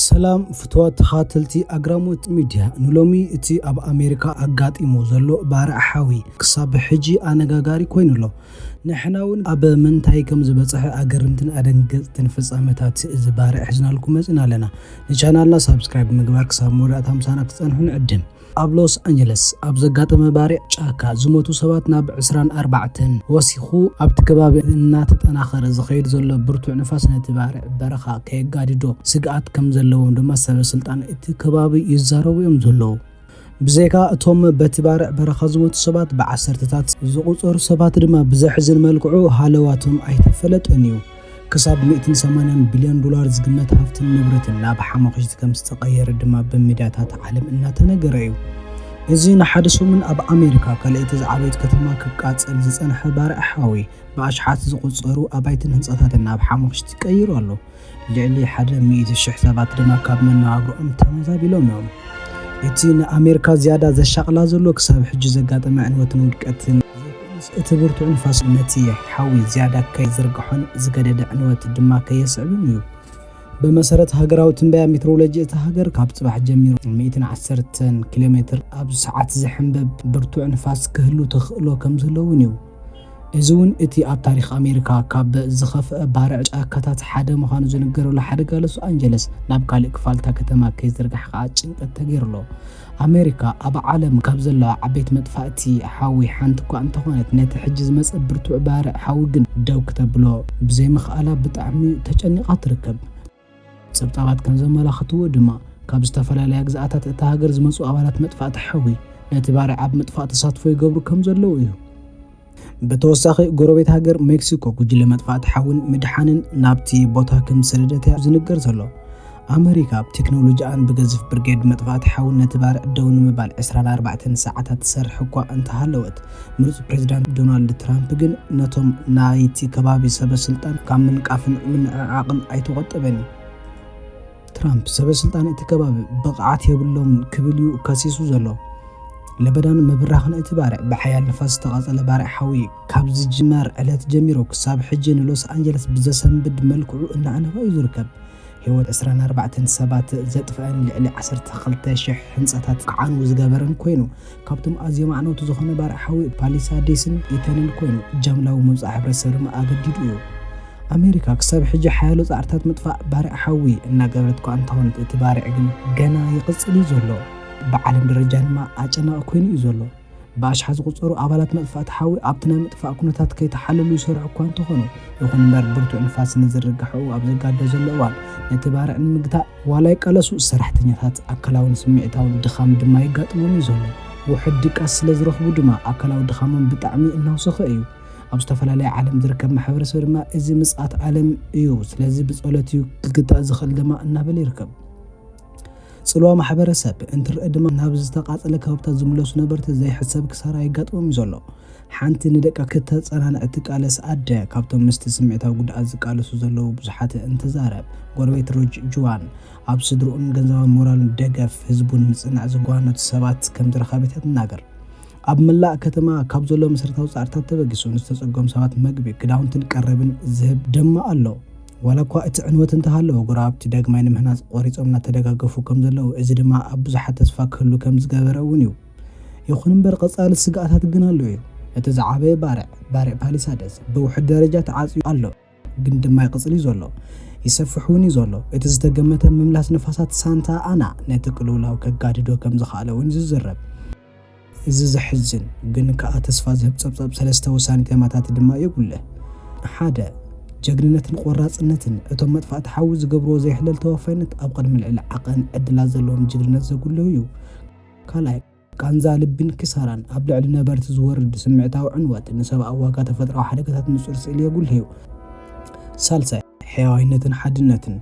ሰላም ፍትዋት ተኻተልቲ ኣግራሞት ሚድያ ንሎሚ እቲ ኣብ ኣሜሪካ ኣጋጢሙ ዘሎ ባርዕ ሓዊ ክሳብ ሕጂ ኣነጋጋሪ ኮይኑ ኣሎ። ንሕና እውን ኣብ ምንታይ ከም ዝበፅሐ ኣገርምትን ኣደንገፅትን ፍፃመታት እዚ ባርዕ ሒዝናልኩም መፅና ኣለና። ንቻናልና ሳብስክራይብ ምግባር ክሳብ መወዳእታ ምሳና ክትፀንሑ ንዕድም። ኣብ ሎስ ኣንጀለስ ኣብ ዘጋጠመ ባርዕ ጫካ ዝሞቱ ሰባት ናብ ዕስራን ኣርባዕተን ወሲኹ። ኣብቲ ከባቢ እናተጠናኸረ ዝኸይድ ዘሎ ብርቱዕ ንፋስ ነቲ ባርዕ በረኻ ከየጋድዶ ስግኣት ከም ዘለዎም ድማ ሰበ ስልጣን እቲ ከባቢ ይዛረቡ'ዮም ዘለዉ። ብዘይካ እቶም በቲ ባርዕ በረኻ ዝሞቱ ሰባት ብዓሰርተታት ዝቑጸሩ ሰባት ድማ ብዘሕዝን መልክዑ ሃለዋቶም ኣይተፈለጠን'ዩ። ክሳብ ሚእትን ሰማንያን ቢልዮን ዶላር ዝግመት ሃፍትን ንብረትን ናብ ሓሞኽሽቲ ከም ዝተቐየረ ድማ ብሚድያታት ዓለም እናተነገረ እዩ። እዚ ንሓደ ሰሙን ኣብ ኣሜሪካ ካልኣይቲ ዝዓበየት ከተማ ክቃጸል ዝጸንሐ ባርዕ ሓዊ፣ ብኣሽሓት ዝቑጸሩ ኣባይትን ህንጻታትን ናብ ሓሞኽሽቲ ቀይሩ ኣሎ። ልዕሊ ሓደ ሚእቲ ሽሕ ሰባት ድማ ካብ መነባብሮኦም ተመዛቢሎም እዮም። እቲ ንኣሜሪካ ዝያዳ ዘሻቕላ ዘሎ ክሳብ ሕጂ ዘጋጠመ ዕንወትን ውድቀትን፣ እቲ ብርቱዕ ንፋስ ነቲ ሓዊ ዝያዳ ከይዝርግሖን ዝገደደ ዕንወት ድማ ከየስዕብን እዩ። ብመሰረት ሃገራዊ ትንበያ ሜትሮሎጂ እታ ሃገር፣ ካብ ጽባሕ ጀሚሩ ሚእትን ዓሰርተን ኪሎሜትር ኣብ ሰዓት ዝሕንበብ ብርቱዕ ንፋስ ክህሉ ተኽእሎ ከምዘሎ እውን እዩ። እዚ እውን እቲ ኣብ ታሪኽ ኣሜሪካ ካብ ዝኸፍኣ ባርዕ ጫካታት ሓደ ምዃኑ ዝንገረሉ ሓደጋ ሎስ ኣንጀለስ ናብ ካልእ ክፋል እታ ከተማ ከይዝርጋሕ ከኣ ጭንቀት ተገይሩ ኣሎ። ኣመሪካ ኣብ ዓለም ካብ ዘለዋ ዓበይቲ መጥፋእቲ ሓዊ ሓንቲ እኳ እንተኾነት ነቲ ሕጂ ዝመጸ ብርቱዕ ባርዕ ሓዊ ግን ደው ክተብሎ ብዘይምኽኣላ ብጣዕሚ ተጨኒቓ ትርከብ። ጸብጻባት ከም ዘመላኽትዎ ድማ ካብ ዝተፈላለያ ግዝኣታት እታ ሃገር ዝመጹ ኣባላት መጥፋእቲ ሓዊ ነቲ ባርዕ ኣብ ምጥፋእ ተሳትፎ ይገብሩ ከም ዘለዉ እዩ። ብተወሳኺ ጎረቤት ሃገር ሜክሲኮ ጉጅለ መጥፋእቲ ሓውን ምድሓንን ናብቲ ቦታ ከም ዝሰደደት'ያ ዝንገር ዘሎ። ኣመሪካ ብቴክኖሎጂኣን ብገዝፍ ብርጌድ መጥፋእቲ ሓውን ነቲ ባርዕ ደው ንምባል ዕስራን ኣርባዕተን ሰዓታት ትሰርሕ እኳ እንተሃለወት፣ ምሩጽ ፕሬዚዳንት ዶናልድ ትራምፕ ግን ነቶም ናይቲ ከባቢ ሰበስልጣን ካብ ምንቃፍን ምንዕዓቕን ኣይተቖጠበን። ትራምፕ ሰበስልጣን እቲ ከባቢ ብቕዓት የብሎምን ክብል እዩ ከሲሱ ዘሎ። ለበዳን ምብራኽን እቲ ባርዕ ብሓያል ንፋስ ዝተቓጸለ ባርዕ ሓዊ ካብ ዝጅመር ዕለት ጀሚሩ ክሳብ ሕጂ ንሎስ ኣንጀለስ ብዘሰንብድ መልክዑ እናኣንፍዐ እዩ ዝርከብ። ህይወት 24 ሰባት ዘጥፍአን ልዕሊ 12,000 ህንጻታት ክዓንው ዝገበረን ኮይኑ ካብቶም ኣዝዮም ኣዕነውቲ ዝኾነ ባርዕ ሓዊ ፓሊሳዴስን ኢተንን ኮይኑ ጃምላዊ ምውጻእ ሕብረተሰብ ድማ ኣገዲዱ እዩ። ኣሜሪካ ክሳብ ሕጂ ሓያሎ ጻዕርታት ምጥፋእ ባርዕ ሓዊ እናገበረት እኳ እንተኾነት እቲ ባርዕ ግን ገና ይቕጽል እዩ ዘሎ። ብዓለም ደረጃ ድማ ኣጨናቒ ኮይኑ እዩ ዘሎ። ብኣሽሓት ዝቑጸሩ ኣባላት መጥፋእቲ ሓዊ ኣብቲ ናይ ምጥፋእ ኩነታት ከይተሓለሉ ይሰርሑ እኳ እንተኾኑ፣ ይኹን እምበር ብርቱዕ ንፋስ ንዝርግሐኡ ኣብ ዘጋድዶ ዘሎ እዋን ነቲ ባርዕ ንምግታእ ዋላ ይቃለሱ፣ ሰራሕተኛታት ኣካላውን ስምዒታውን ድኻም ድማ የጋጥሞም እዩ ዘሎ። ውሑድ ድቃስ ስለ ዝረኽቡ ድማ ኣካላዊ ድኻሞም ብጣዕሚ እናውሰኸ እዩ። ኣብ ዝተፈላለየ ዓለም ዝርከብ ማሕበረሰብ ድማ እዚ ምጽኣት ዓለም እዩ ስለዚ ብጸሎት እዩ ክግታእ ዝኽእል ድማ እናበለ ይርከብ። ጽልዋ ማሕበረሰብ እንትረኣ ድማ ናብ ዝተቓጸለ ከባብታት ዝምለሱ ነበርቲ ዘይሕሰብ ክሳራ የጋጥሞም እዩ ዘሎ። ሓንቲ ንደቃ ክተጸናንዕ እትቃለስ ኣደ ካብቶም ምስቲ ስምዒታዊ ጉድኣት ዝቃለሱ ዘለዉ ብዙሓት እንትዛረብ፣ ጎረቤት ሮጅ ጁዋን፣ ኣብ ስድርኡን ገንዘባዊ ሞራልን ደገፍ ህዝቡ ንምጽናዕ ዝጓነቱ ሰባት ከም ዝረኸበት እያ ትናገር። ኣብ መላእ ከተማ ካብ ዘሎ መሰረታዊ ጻዕርታት ተበጊሱ ንዝተጸገሙ ሰባት መግቢ፣ ክዳውንትን ቀረብን ዝህብ ድማ ኣሎ። ዋላ እኳ እቲ ዕንወት እንተሃለወ፣ ጎረባብቲ ዳግማይ ንምህናጽ ቆሪጾም እናተደጋገፉ ከም ዘለዉ፣ እዚ ድማ ኣብ ብዙሓት ተስፋ ክህሉ ከም ዝገበረ እውን እዩ። ይኹን እምበር ቀጻሊ ስግኣታት ግን ኣሎ እዩ። እቲ ዝዓበየ ባርዕ፣ ባርዕ ፓሊሳደስ፣ ብውሑድ ደረጃ ተዓጽዩ ኣሎ፣ ግን ድማ ይቕጽል እዩ ዘሎ። ይሰፍሕ እውን እዩ ዘሎ። እቲ ዝተገመተ ምምላስ ንፋሳት ሳንታ ኣና ነቲ ቅልውላው ከጋድዶ ከም ዝኸኣለ እውን እዩ ዝዝረብ። እዚ ዘሕዝን ግን ከኣ ተስፋ ዝህብ ጸብጻብ ሰለስተ ወሳኒ ተማታት ድማ የጉልሕ። ሓደ፣ ጀግንነትን ቆራጽነትን፣ እቶም መጥፋእቲ ሓዊ ዝገብርዎ ዘይሕለል ተወፋይነት ኣብ ቅድሚ ልዕሊ ዓቐን ዕድላት ዘለዎም ጅግንነት ዘጉልህ እዩ። ካልኣይ፣ ቃንዛ ልቢን ክሳራን፣ ኣብ ልዕሊ ነበርቲ ዝወርድ ስምዒታዊ ዕንወት፣ ንሰብኣዊ ዋጋ ተፈጥሮኣዊ ሓደጋታት ንጹር ስእሊ የጉልሕ'ዩ። ሳልሳይ፣ ሕያዋይነትን ሓድነትን፣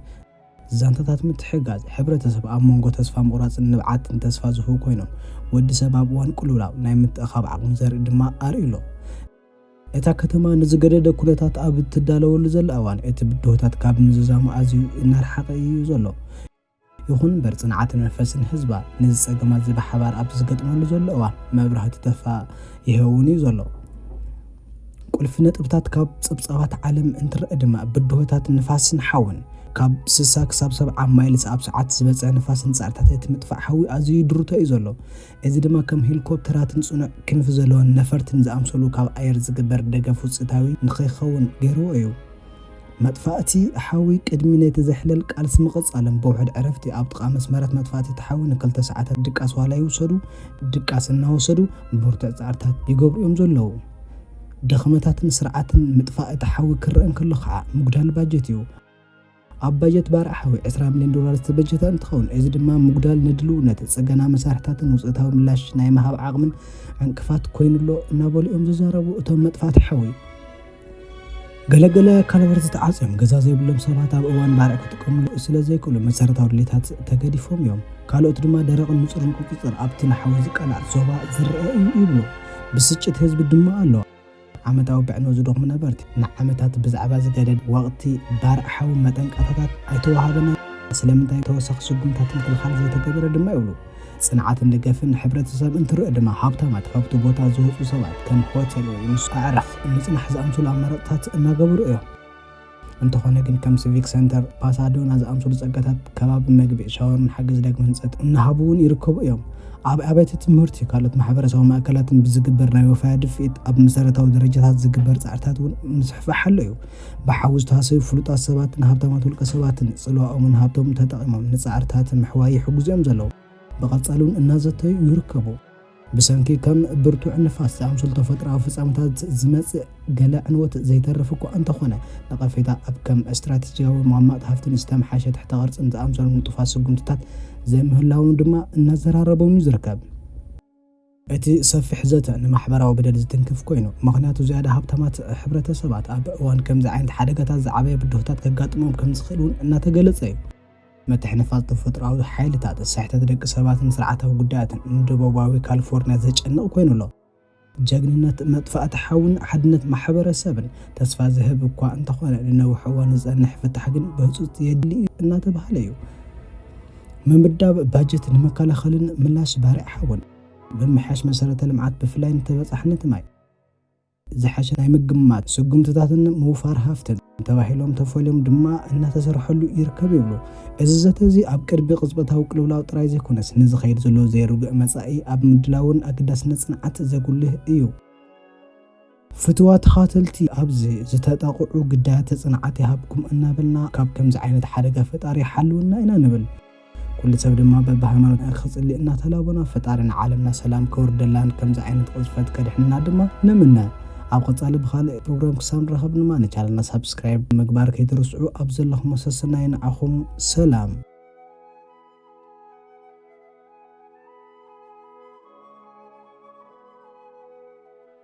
ዛንታታት ምትሕግጋዝ ሕብረተሰብ ኣብ መንጎ ተስፋ ምቑራጽን ንብዓትን ተስፋ ዝህቡ ኮይኖም፣ ወዲ ሰብ ኣብ እዋን ቅልውላው ናይ ምትእኽኻብ ዓቕሙ ዘርኢ ድማ ኣርእዩ ኣሎ። እታ ከተማ ንዝገደደ ኩነታት ኣብ እትዳለወሉ ዘላ እዋን፣ እቲ ብድሆታት ካብ ምዝዛሙ ኣዝዩ እናርሓቐ እዩ ዘሎ። ይኹን እምበር ፅንዓትን መንፈስን ህዝባ ነዚ ፀገማት እዚ ብሓባር ኣብ ዝገጥመሉ ዘሎ እዋን መብራህቱ ተፋ ይኸውን እዩ ዘሎ። ቁልፊ ነጥብታት ካብ ፀብፃባት ዓለም እንትረአ ድማ ብድሆታት ንፋስን ሓውን ካብ ስሳ ክሳብ ሰብዓ ማይልስ ኣብ ሰዓት ዝበፅሕ ንፋስን ፃዕርታት እቲ ምጥፋእ ሓዊ ኣዝዩ ድሩቶ እዩ ዘሎ። እዚ ድማ ከም ሄሊኮፕተራትን ፅኑዕ ክንፊ ዘለወን ነፈርትን ዝኣምሰሉ ካብ ኣየር ዝግበር ደገፍ ውፅኢታዊ ንከይኸውን ገይርዎ እዩ። መጥፋእቲ ሓዊ ቅድሚ ነቲ ዘሕለል ቃልሲ ምቕጻሎም ብውሕድ ዕረፍቲ ኣብ ጥቓ መስመራት መጥፋእቲ እቲ ሓዊ ንክልተ ሰዓታት ድቃስ ዋላ ይውሰዱ ድቃስ እናወሰዱ ብርቱዕ ጻዕርታት ይገብሩ እዮም ዘለዉ። ድኽመታትን ስርዓትን ምጥፋእ እቲ ሓዊ ክረእ እንከሎ ከዓ ምጉዳል ባጀት እዩ። ኣብ ባጀት ባርዕ ሓዊ ዕስራ ሚልዮን ዶላር ዝተበጀተ እንትኸውን እዚ ድማ ምጉዳል ንድልውነት ጽገና መሳርሕታትን ውፅኢታዊ ምላሽ ናይ ምሃብ ዓቕምን ዕንቅፋት ኮይኑሎ እናበሉ እዮም ዝዛረቡ እቶም መጥፋእቲ ሓዊ። ገለገለ ካልበር ዝተዓፅዮም ገዛ ዘይብሎም ሰባት ኣብ እዋን ባርዕ ክጥቀምሉ ስለ ዘይክእሉ መሰረታዊ ድሌታት ተገዲፎም እዮም። ካልኦት ድማ ደረቕን ንፁርን ቁፅፅር ኣብቲ ንሓዊ ዝቃላዕ ዞባ ዝረኣ እዩ ይብሉ። ብስጭት ህዝቢ ድማ ኣሎ። ዓመታዊ ብዕኖ ዝደኽሙ ነበርቲ ንዓመታት ብዛዕባ ዝገደድ ወቕቲ ባርዕ ሓዊ መጠንቀቕታታት ኣይተዋሃበናን፣ ስለምንታይ ተወሳኺ ስጉምታት ምክልኻል ዘይተገበረ ድማ ይብሉ። ጽንዓትን ደገፍን ንሕብረተሰብ እንትርእ ድማ ሃብታማት ሃብቲ ቦታ ዝወጹ ሰባት ከም ሆቴል ወይ ምስ ኣዕራኽ ምጽናሕ ዝኣምስሉ ኣማራጽታት እናገበሩ እዮም። እንተኾነ ግን ከም ሲቪክ ሰንተር ፓሳዶና ዝኣምስሉ ጸጋታት ከባቢ መግቢ፣ ሻወርን ሓገዝ ዳግመ ህንጸት እናሃቡ እውን ይርከቡ እዮም። ኣብ ኣብያተ ትምህርቲ ካልኦት ማሕበረሰባዊ ማእከላትን ብዝግበር ናይ ወፈያ ድፍኢት ኣብ መሰረታዊ ደረጃታት ዝግበር ጻዕርታት እውን ምስፍሕፋሕ ኣሎ እዩ። ብሓዊ ዝተሃሰዩ ፍሉጣት ሰባትን ሃብታማት ውልቀሰባትን ጽልዋኦምን ሃብቶምን ተጠቒሞም ንጻዕርታት ምሕዋይ ይሕግዙ'ዮም ዘለዉ። ብቐጻሊ'ውን እናዘተዩ ይርከቡ። ብሰንኪ ከም ብርቱዕ ንፋስ ዝኣምሰሉ ተፈጥሮኣዊ ፍጻመታት ዝመጽእ ገለ ዕንወት ዘይተርፍ እኳ እንተኾነ፣ ነቐፌታ ኣብ ከም ስትራቴጂያዊ ምቕማጥ ሃፍትን ዝተምሓሸ ትሕተ-ቅርጽን ዝኣምሰሉ ንጡፋት ስጉምትታት ዘይምህላዎም ድማ እናዘራረቦም'ዩ ዝርከብ። እቲ ሰፊሕ ዘተ ንማሕበራዊ በደል ዝትንክፍ ኮይኑ፣ ምኽንያቱ ዝያዳ ሃብታማት ሕብረተሰባት ኣብ እዋን ከምዚ ዓይነት ሓደጋታት ዝዓበየ ብድሆታት ከጋጥሞም ከም ዝኽእል እውን እናተገለፀ እዩ። ምትሕንፋፅ ተፈጥሮኣዊ ሓይልታት፣ ስሕተት ደቂ ሰባትን ስርዓታዊ ጉዳያትን ንደቡባዊ ካሊፎርኒያ ዘጨንቕ ኮይኑ ኣሎ። ጀግንነት፣ መጥፋእቲ ሓውን ሓድነት ማሕበረሰብን ተስፋ ዝህብ እኳ እንተኾነ፣ ንነዊሕ እዋን ዝፀንሕ ፍታሕ ግን ብህፁፅ የድሊ እዩ እናተብሃለ እዩ። ምምዳብ ባጀት ንመከላኸልን ምላሽ ባርዕ ሓውን ምምሕያሽ መሰረተ ልምዓት ብፍላይ ንተበፃሕነት ማይ ዝሓሸ ናይ ምግማት ስጉምትታትን ምውፋር ሃፍትን ተባሂሎም ተፈልዮም ድማ እናተሰርሐሉ ይርከብ ይብሉ። እዚ ዘተ እዚ ኣብ ቅድቢ ቅጽበታዊ ቅልውላው ጥራይ ዘይኮነስ ንዝኸይድ ዘሎ ዘይርጉእ መጻኢ ኣብ ምድላውን ኣገዳስነት ጽንዓት ዘጉልህ እዩ። ፍትዋ ተኻተልቲ ኣብዚ ዝተጠቕዑ ግዳያተ ጽንዓት ይሃብኩም እናበልና ካብ ከምዚ ዓይነት ሓደጋ ፈጣሪ ይሓልወና ኢና ንብል። ኩሉ ሰብ ድማ በብሃይማኖትና ክጽሊ እናተላቦና ፈጣሪ ንዓለምና ሰላም ከውርደላን ከምዚ ዓይነት ቅዝፈት ከድሕንና ድማ ንምነ። ኣብ ቐጻሊ ብኻልእ ፕሮግራም ክሳብ ንራኸብ ድማ ንቻነልና ሳብስክራይብ ምግባር ከይትርስዑ ኣብ ዘለኹሞ ሰሰናዩ ንዓኹም ሰላም።